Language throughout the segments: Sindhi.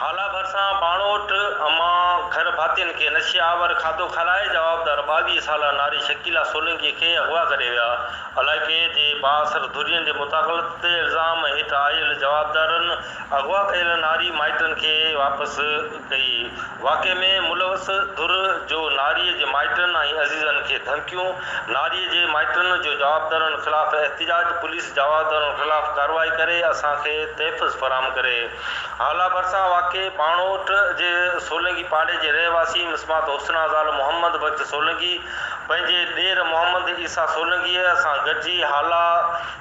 هالا ڀرسان ٻاڻوٽ امان گهر ڀاتين کي نشي آور کاڌو کارائي جوابدار ٻاويهه سالا ناري شڪيلا سولنگي کي اغوا ڪري ويا علائقي جي بااثر ڌرين جي مداخلت تي الزام هيٺ آيل جوابدارن اغوا ڪيل ناري مائٽن کي واپس ڪئي، واقعي ۾ ملوث ڌر جو ناريء جي مائٽن ۽ عزيزن کي ڌمڪيون، ناريء جي مائٽن جو جوابدارن خلاف احتجاج، پوليس جوابدارن خلاف ڪارروائي ڪري اسان کي تحفظ فراهم ڪري. هالا ڀرسان واقع ٻانهوٽ جي سولنگي پاڙي جي رهواسي مسمات حسنا زال محمد بخش سولنگي پنهنجي ڏير محمد عيسيٰ سولنگيء سان گڏجي هالا،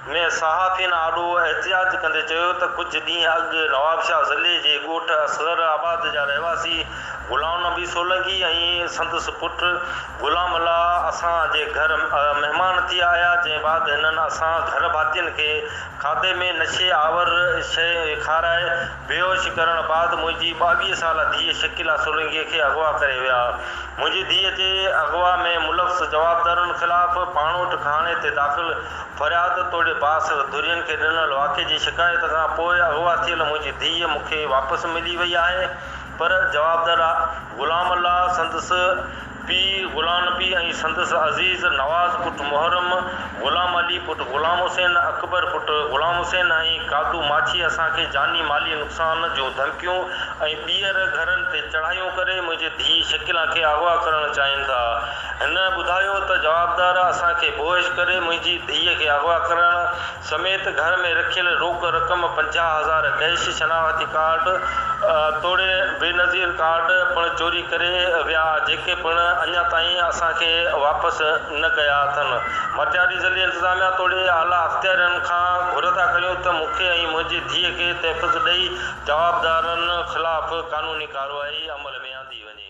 ۾ صحافين آڏو احتجاج ڪندي چيو ته ڪجهه ڏينهن اڳ نوابشاهه ضلعي جي ڳوٺ اصغر آباد جا رهواسي غلام نبي سولنگي ۽ سندس پٽ غلام الله اسان جي گهر مهمان ٿي آيا جنهن بعد هنن اسان گهر ڀاتين کي کاڌي ۾ نشي آور شيء کارائي بيهوش ڪرڻ بعد منهنجي ٻاويهه سالا ڌيء شڪيلا سولنگي کي اغوا ڪري ويا منهنجي ڌيء جي اغوا ۾ ملوث جوابدارن خلاف پاڻوٺ گهاڻي تي داخل فرياد توڙي بااثر ڌرين کي ڏنل واقعي جي شڪايت کان پوء اغوا ٿيل منهنجي ڌيء مون کي واپس ملي وئي آهي پر جوابدار غلام الله، سندس پيء غلام نبي ۽ سندس عزيز نواز پٽ محرم، غلام علي پٽ غلام حسين، اڪبر پٽ غلام حسين ۽ قادو ماڇي اسان کي جاني مالي نقصان جون ڌمڪيون ۽ ٻيهر گهرن تي چڙهايون ڪري منهنجي ڌيء شڪيلا کي اغوا ڪرڻ چاهين ٿا. هن ٻڌايو ته جوابدار اسان کي بوهش ڪري منهنجي ڌيء کي اغوا ڪرڻ سميت گهر ۾ رکيل روڪ رقم پنجاهه هزار ڪيش، شناختي ڪارڊ توڙي بينظير ڪارڊ پڻ چوري ڪري ويا جيڪي پڻ اڃا تائين اسان کي واپس نه ڪيا اٿن، مٽياري ضلعي انتظاميا توڙي اعليٰ اختيارين کان گهردا ڪريون ته مون کي ۽ منهنجي ڌيء کي تحفظ ڏئي جوابدارن خلاف قانوني ڪارروائي عمل ۾ آندي وڃي.